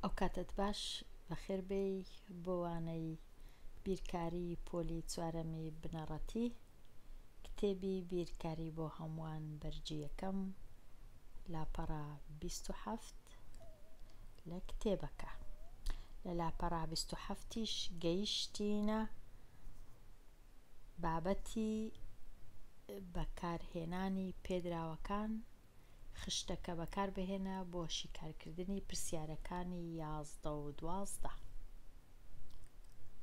ئەو کاتەت باش بەخێر بێی بۆ وانەی بیرکاری پۆلی چوارەمی بنەڕەتی کتێبی بیرکاری بۆ هەمووان بەرگی یەکەم لاپەڕە 27 لە کتێبەکە لە لاپەڕە 27یش گەیشتینە بابەتی بەکارهێنانی پێدراوەکان خشتەکە بەکاربهێنە بۆ شیکارکردنی پرسیارەکانی یازدە و دوازدە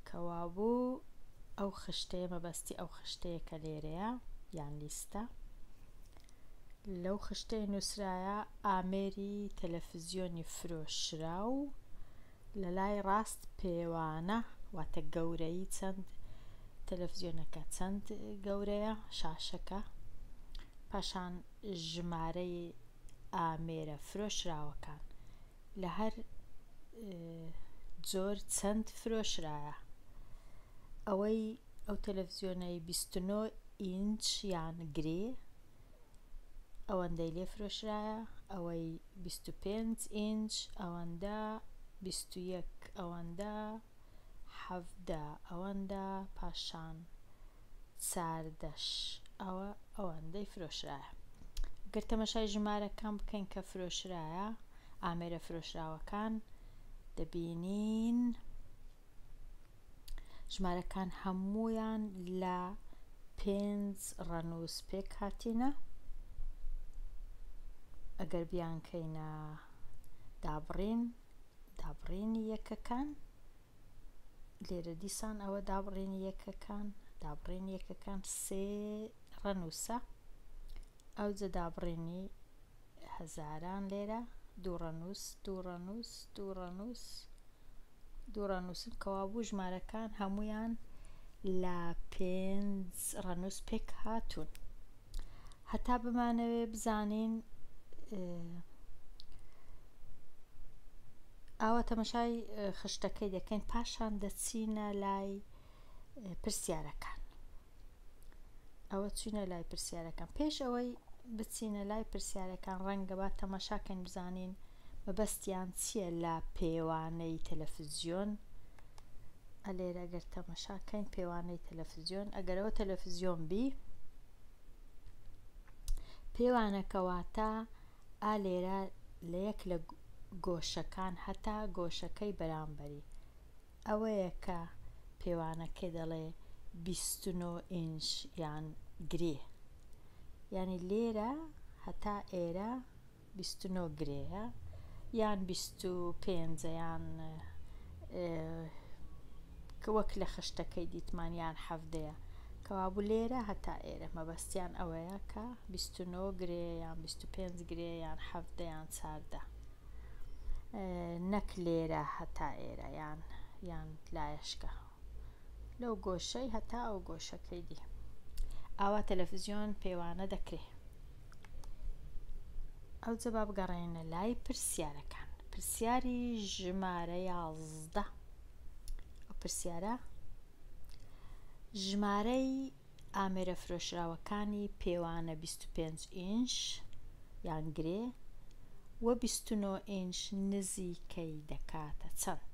کەوابوو ئەو خشتەیە مەبەستی ئەو خشتەیە کە لێرەیە یان لیستە لەو خشتەی نووسرایە ئامێری تەلەفزیۆنی فرۆشرا و لە لای ڕاست پێوانە واتە گەورەی چەند تەلەفزیۆنەکە چەند گەورەیە شاشەکە پاشان ژمارەی ئامێرە فرۆشراوەکان لە هەر جۆر چەند فرۆشرایە ئەوەی ئەو تەلەڤزیۆنەی 29 ئینچ یان گرێ ئەوەندەی لێ فرۆشرایە ئەوەی 25 ئینچ ئەوەندە 21 ئەوەندە 17 ئەوەندە پاشان ساردەش ئەوە ئەوەندەی فرۆشرایە گەر تەمەشای ژمارەکان بکەین کە فرۆشرایە ئامێرە فرۆشراوەکان دەبینین ژمارەکان هەمویان لە پێنج ڕەنووس پێک هاتینە ئەگەر بیانکەینە دابڕین دابڕینی یەکەکان لێرە دیسان ئەوە دابڕێنی یەکەکان دابڕێنی یەکەکان سێ ڕەنووسە ئەو جە دابڕێنی هەزاران لێرە دوو ڕەنووس دوو ڕەنووس دوو ڕەنووس دوو ڕەنووسن کەوابوو ژمارەکان هەمویان لە پێنج ڕەنووس پێک هاتوون هەتا بمانەوێ بزانین ئاوا تەمەشای خشتەکەی دەکەین پاشان دەچینە لای پرسیارەکان ئەوە چینە لای پرسیارەکان پێش ئەوەی بچینە لای پرسیارەکان ڕەنگە با تەماشاکەن بزانین مەبەستیان چیە لە پێوانەی تەلەفزیۆن ئەلێرە ئەگەر تەمەشاکەین پێوانەی تەلەفزیۆن ئەگەرەوە تەلەفزیۆن بی پێوانەکەواتە ئالێرە لە یەک لە گۆشەکان هەتا گۆشەکەی بەرامبەری ئەوەیە کە پێوانەکە دەڵێ 29 ئینش یان گرێ ینی لێرە هەتا ئێرە بیست و نۆ گرێیە یان بیست و پێنج یان کە وەک لە خشتەکەی دیتمان یان حەفدەیە کەوابوو لێرە هەتا ئێرە مەبەستیان ئەوەیە کە بیست و نۆ گرێ یان بیست و پێنج گرێ یان حەفدەیان چاردە نەک لێرە هەتا ئێرە یان یان لایەشکە لەو گۆشەی هەتا ئەو گۆشەکەی دی ئاوا تەلەفزیۆن پێوانە دەکرێ ئەو جەبا بگەڕێنە لای پرسیارەکان پرسیاری ژمارە یازدە ئەو پرسیارە ژمارەی ئامێرە فرۆشراوەکانی پێوانە 25 ئینش یان گرێ و 29 ئینش نزیکەی دەکاتە چەند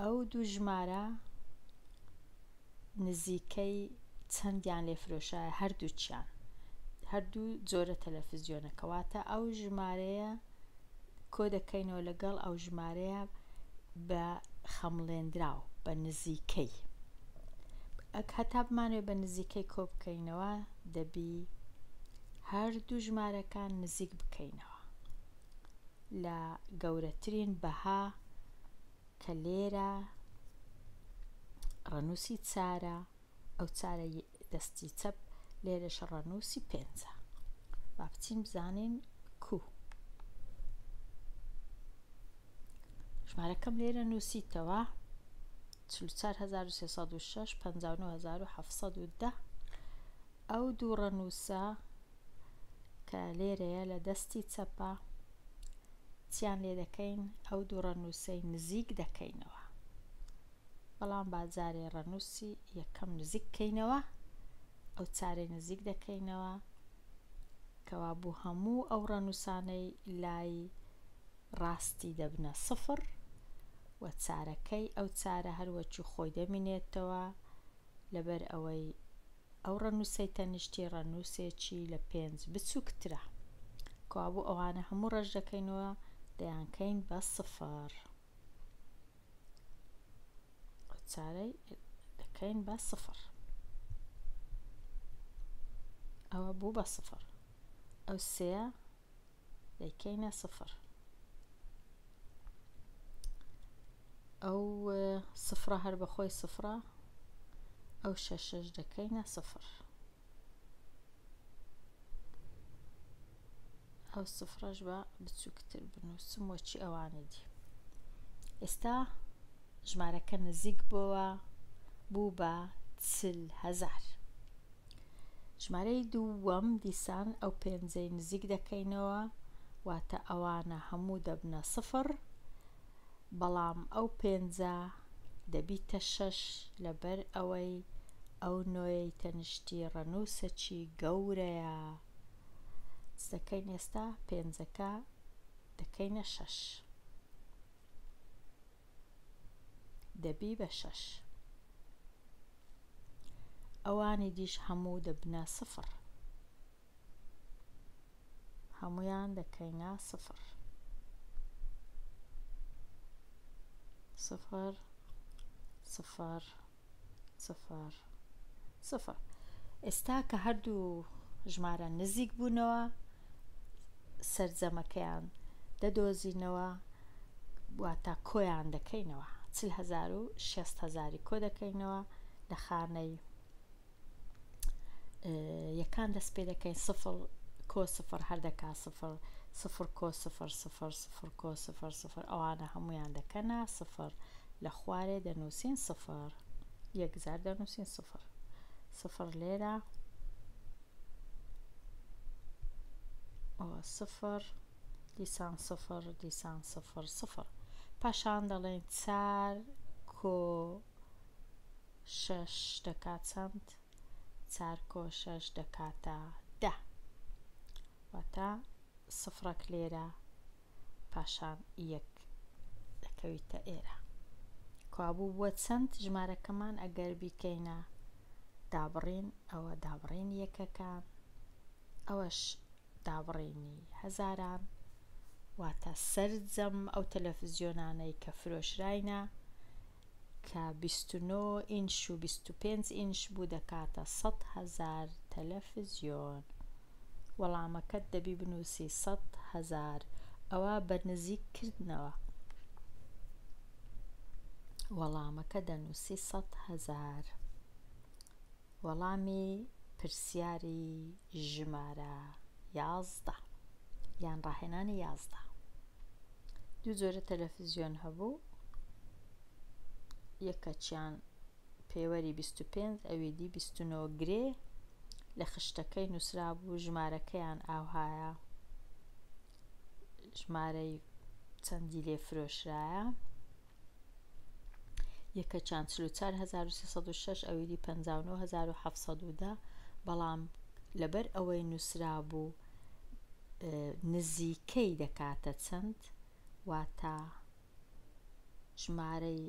ئەو دوو ژمارە نزیکەی چەندیان لێ فرۆشایە هەردووچیان هەردوو جۆرە تەلەفزیۆنە کەواتە ئەو ژمارەیە کۆ دەکەینەوە لەگەڵ ئەو ژمارەیە بە خەمڵێنراو بە نزیکەی ئەک هەتا بمانوێ بە نزیکەی کۆ بکەینەوە دەبی هەردوو ژمارەکان نزیک بکەینەوە لە گەورەترین بەها کە لێرە ڕەنووسی چارە ئەو چارە دەستی چەپ لێرەش ڕەنووسی پێنجە با بچین بزانین کو ژمارەکەم لێرە نووسیتەوە 1970 ئەو دوو ڕەنووسە کە لێرەیە لە دەستی چەپە چیان لێ دەکەین ئەو دوو ڕەنووسەی نزیک دەکەینەوە بەڵام بازارێ ڕەنووسی یەکەم نزیک بکەینەوە ئەو چارێ نزیک دەکەینەوە کەوا بوو هەموو ئەو ڕەنووسانەی لای ڕاستی دەبنە سفر و چارەکەی ئەو چارە هەروەکی خۆی دەمینێتەوە لەبەر ئەوەی ئەو ڕەنووسەی تەنیشتی ڕەنووسێکی لە پێنج بچووکترە. کەوابوو ئەوانە هەموو ڕەش دەکەینەوە دەیانکەین بە سفر. ئەو چارەی دەکەین بە سفر. ئەوە بوو بە سفر. ئەو سێە دەیکەینە سفر ئەو سفرە هەر بەخۆی سفرە ئەو شەشەش دەکەینە سفر ئەو سفرەش بە بچووکتر بنووسم وەچی ئەوانی دی ئێستا ژمارەکە نزیک بووە بوو بە چل هەزار ژمارەی دووەم دیسان ئەو پێنجەی نزیک دەکەینەوە واتە ئەوانە هەموو دەبنە سفر بەڵام ئەو پێنجە دەبیتە شەش لەبەر ئەوەی ئەو نۆیەی تەنشتی ڕەنووسەکی گەورەیە دەکەین ئێستا پێنجەکە دەکەینە شەش دەبی بە شەش ئەوانی دیش هەموو دەبنە سفر هەمویان دەکەینە سفر سفر سفر سفر سفر ئێستا کە هەردوو ژمارە نزیک بوونەوە سەرجەمەکەیان دەدۆزینەوە واتا کۆیان دەکەینەوە چل هزار و شێست هزاری کۆ دەکەینەوە لە خانەی یەکان دەست پێ دەکەین سفر کۆ سفر هەر دەکا سفر سفر کۆ سفر سفر سفر کۆ سفر سفر ئەوانە هەمویان دەکەنا سفر لە خوارێ دەنووسین سفر یەکجار دەنووسین سفر سفر لێرە سفر دیسان سفر دیسان سفر سفر پاشان دەڵێن چار کۆ شەش دەکا چەند؟ چار کۆ شەش دەکاتە دە. واتە سفرەک لێرە پاشان یەک دەکەویتە ئێرە. کوابوو بووە چەند ژمارەکەمان ئەگەر بیکەینە دابڕین ئەوە دابڕین یەکەکان ئەوەش دابڕینی هەزاران واتە سەرجەم ئەو تەلەفزیۆنانەی کە فرۆشراینە کە بیست و نۆ ئینش و بیست و پێنج ئینش بوو دەکاتە سەد هەزار تەلەفزیۆن وەڵامەکەت دەبی بنووسی سەد هەزار ئەوا بە نزیک کردنەوە وەڵامەکە دەنووسی سەد هەزار. وەڵامی پرسیاری ژمارە یازدە یان ڕاهێنانی یازدە دوو جۆرە تەلەفزیۆن هەبوو یەکەچیان پێوەری 25 ئەوی دی 29 گرێ لە خشتەکەی نووسرا بوو ژمارەکەیان ئاوهایە ژمارەی چەندی لێ فرۆشرایە یەکەچان چل و چوار هەزار و سێ سەد و شەش ئەویدی پەنجا و نۆ هەزار و حەفت سەد و دە بەڵام لەبەر ئەوەی نووسرابوو نزیکەی دەکاتە چەند واتە ژمارەی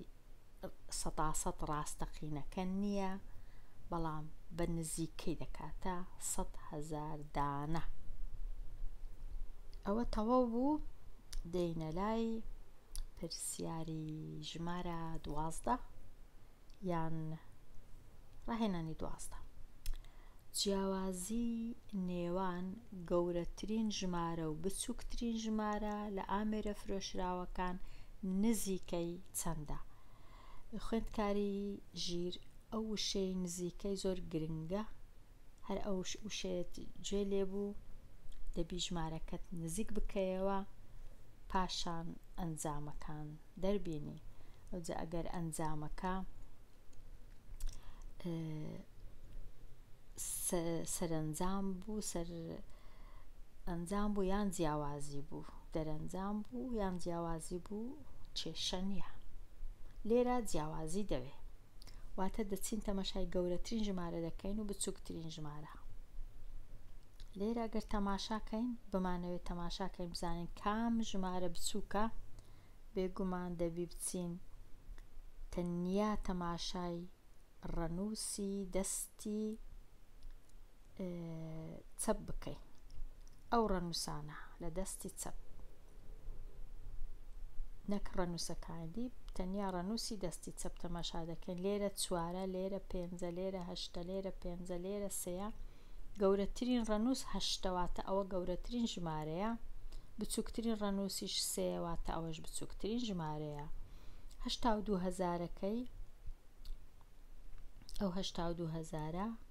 سەداسەد ڕاستەقینەکە نییە بەڵام بە نزیکەی دەکاتە سە هزار دانە ئەوە تەواو بوو دێینە لای پرسیاری ژمارە دوازدە یان ڕاهێنانی دوازدە جیاوازی نێوان گەورەترین ژمارە و بچووکترین ژمارە لە ئامێرە فرۆشراوەکان نزیکەی چەندە خوێندکاری ژیر ئەو وشەی نزیکەی زۆر گرنگە هەر ئەو وشەیەت جوێ لێ بوو دەبی ژمارەکەت نزیک بکەیەوە پاشان ئەنجامەکان دەربینی ئەوجا ئەگەر ئەنجامەکە سەرنجام بوو سەر ئەنجام بوو یان جیاوازی بوو دەرەنجام بوو یان جیاوازی بوو کێشە نییە لێرە جیاوازی دەوێ واتە دەچین تەماشای گەورەترین ژمارە دەکەین و بچووکترین ژمارە لێرە گەر تەماشاکەین بمانەوێت تەماشاکەین بزانین کام ژمارە بچووکە بێگومان دەبی بچین تەنیا تەماشای ڕەنووسی دەستی چەپ بکەین ئەو ڕەنووسانە لە دەستی چەپ نەک ڕەنووسەکانی تەنیا ڕەنووسی دەستی چەپ تەماشا دەکەین لێرە چوارە لێرە پێنجە لێرە هەشتە لێرە پێنجە لێرە سەیە گەورەترین ڕەنووس هەشتەواتە ئەوە گەورەترین ژمارەیە بچووکترین ڕەنووسیش سێواتە ئەوەش بچووکترین ژمارەیە هەشتا و دوو هەزارەکەی ئەوهشتا و دوو هەزارە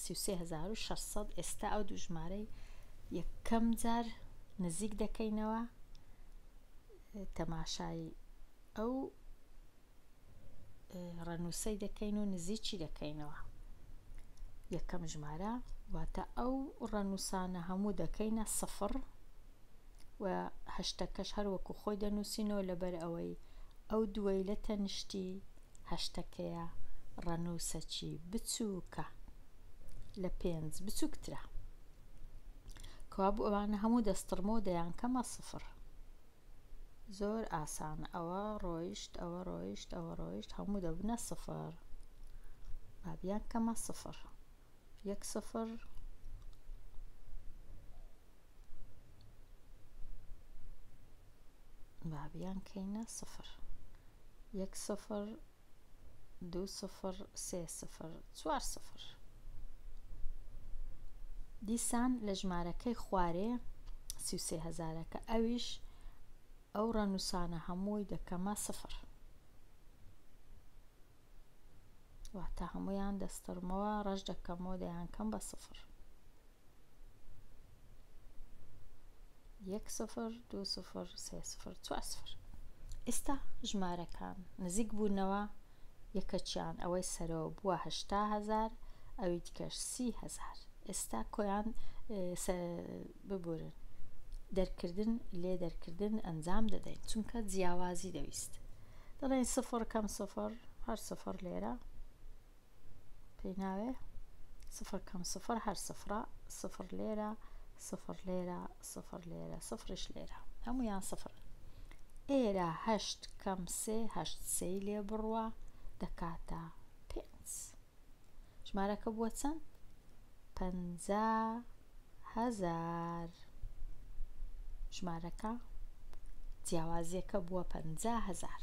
سی و سێ هەزار و شەش سەد ئێستا ئەو دوو ژمارەی یەکەم جار نزیک دەکەینەوە تەماشای ئەو ڕەنووسەی دەکەین و نزیکی دەکەینەوە یەکەم ژمارە واتە ئەو ڕەنووسانە هەموو دەکەینە سفر و هەشتەکەش هەر وەکو خۆی دەنووسینەوە لەبەر ئەوەی ئەو دووەی لە تەنشتی هەشتەکەیە ڕەنووسەچی بچووکە لە پێنج بچووکترە کەوابوو ئەوانە هەموو دەستڕمۆ دەیان کەمە سفر زۆر ئاسان ئەوە ڕۆیشت ئەوە ڕۆیشت ئەوە ڕۆیشت هەموو دەبنە سفر بابیان کەمە سفر یەک سفر با بیانکەینە سفر یەک سفر دوو سفر سێ سفر چوار سفر دیسان لە ژمارەکەی خوارێ سی و سێ هەزارەکە ئەویش ئەو ڕەنووسانە هەمووی دەکەمە سفر واتە هەموویان دەستڕمەوە ڕەش دەکەمەوە دەیان کەم بە سفر یەک سفر دو سفر سێ سفر چوار سفر ئێستا ژمارەکان نزیک بوونەوە یەکەچیان ئەوەی سەرەوە بووە هەشتا هزار ئەوی دیکەش سی هزار ئێستا کۆیان ببورن دەرکردن لێ دەرکردن ئەنجام دەدەین چونکە جیاوازی دەویست دەڵێن سفر کەم سفر هەر سفر لێرە پێی ناوێ سفر کەم سفر هەر سفرە سفر لێرە سفر لێرە سفر لێرە سفرش لێرە هەمویان سفر ئێرە هەشت کەم سێ هەشت سێ لێ بڕوە دەکاتە پێنج ژمارەکە بووە چەند پەنجا هەزار. ژمارەکە جیاوازیەکە بووە پەنجا هەزار.